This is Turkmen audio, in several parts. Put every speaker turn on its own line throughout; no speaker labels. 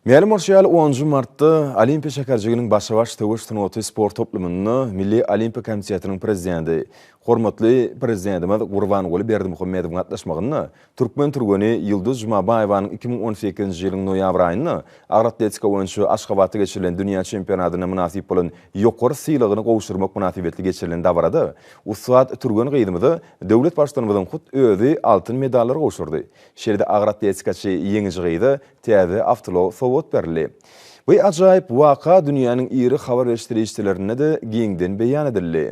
Mälim bolşy ýaly, onunjy martda Olimpiýa şäherjiginiň Başa-baş söweş sungaty sport toplumynda Milli Olimpiýa komitetiniň prezidenti, hormatly Prezidentimiz Gurbanguly Berdimuhamedowyň gatnaşmagynda türkmen türgeni Ýulduz Jumabaýewanyň iki müň on sekizinji ýylyň noýabr aýynda agyr atletika boýunça Aşgabatda geçirilen dünýä çempionatyna mynasyp bolan ýokary sylagyny gowşurmak mynasybetli geçirilen dabarada ussat türgen gyzymyza döwlet Baştutanymyzyň hut özi altyn medallary gowşurdy. Şeýle-de agyr atletikaçy ýeňiji gyza täze awtoulag sowgat berildi. Bu ajaýyp waka dünýäniň iri habar beriş serişdelerinde-de giňden beýan edildi.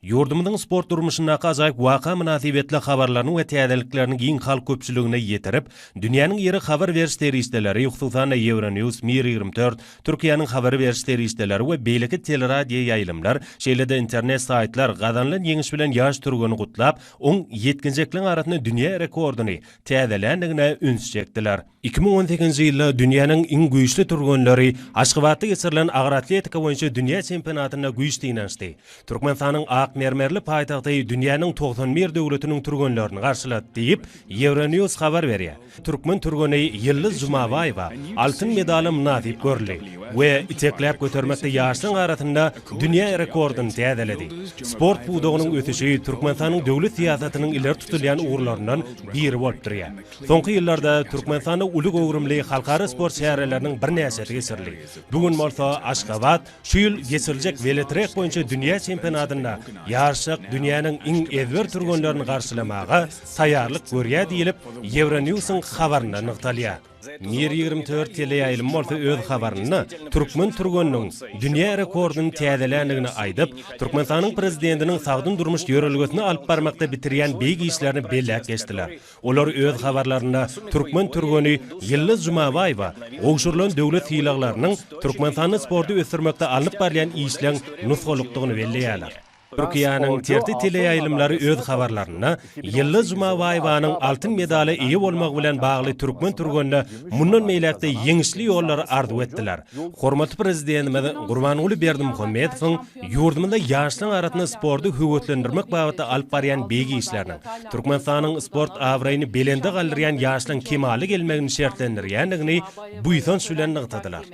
Ýurdumyzyň sport durmuşyndaky ajaýyp waka mynasybetli habarlaryny we täzeliklerini giň halk köpçüligine ýetirip, dünýäniň iri habar beriş serişdeleri, hususan-da, Euronews, Mir ýigrimi dört, Türkiýäniň habar beriş serişdeleri we beýleki teleradioýaýlymlar, şeýle-de internet saýtlar gazanylan ýeňiş bilen ýaş türgeni gutlap, oň ýetginjekleň arasynda dünýä rekordyny täzeländigine üns çekdiler. Iki müň on sekizinji ýylda dünýäniň iň güýçli türgenleri Aşgabatda geçirilen agyr atletika boýunça dünýä çempionatynda güýç synanyşdy. Türkmenistanyň ak mermerli paýtagty dünýäniň togsan bir döwletiniň türgenlerini garşylat, diýip, Euronews habar berýär. Türkmen türgeni Ýyldyz Jumabaýewa altyn medala mynasyp görüldi we itekläp götermekde ýaşlaryň arasynda dünýä rekordyny täzeledi. Sport pudagynyň ösüşi Türkmenistanyň döwlet syýasatynyň ileri tutulýan ugurlaryndan biri bolup durýar. Soňky ýyllarda Türkmenistanda uly göwrümli halkara sport çäreleriniň birnäçesi geçirildi. Bu gün bolsa Aşgabat, Şu ýyl geçiriljek weletrek boýunça dünýä çempionatynda ýaryşjak dünýäniň iň ezber türgenlerini garşylamaga taýýarlyk görýär diýlip, Ýewronews-yň habarynda nygtalýar. Mir ýigrimi dört teleýaýlym bolsa öz habarynda türkmen türgeniniň dünýä rekordyny täzeländigini aýdyp, Türkmenistanyň Prezidentiniň sagdyn durmuş ýörelgesini alyp barmakda bitirýän beýik işlerini belläp geçdiler. Olar öz habarlarynda türkmen türgeni Ýyldyz Jumabaýewa gowşurylan döwlet sylaglarynyň Türkmenistanda sporty ösdürmekde alnyp barylýan işleň nusgalykdygyny belleýärler. Türkiýäniň TRT teleýaýlymlary öz habarlarynda Ýyldyz Jumabaýewanyň altyn medala eýe bolmagy bilen bagly türkmen türgenine mundan beýläk-de ýeňişli ýollary arzuw etdiler, hormatly Prezidentimiz Gurbanguly Berdimuhamedowyň Ýurdumyzda ýaşlaryň arasynda sporty höweslendirmek babatda alyp barýan beýik işleriniň, Türkmenistanyň sport abraýyny belende galdyrýan ýaşlaryň kemala gelmegini şertlendirýändigini buýsanç bilen nygtadylar.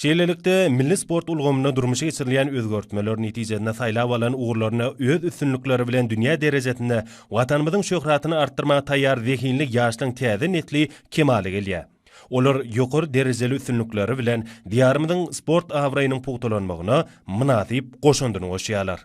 Şeýlelikde, milli sport ulgamynda durmuşa geçirilýän özgertmeler netijesinde saýlap alan ugurlarynda öz üstünlikleri bilen dünýä derejesinde Watanymyzyň şöhratyny artdyrmaga taýýar zehinli ýaşlaryň täze nesli kemala gelýär. Olar ýokary derejeli üstünlikleri bilen Diýarymyzyň sport abraýynyň pugtalanmagyna mynasyp goşandyny goşýarlar.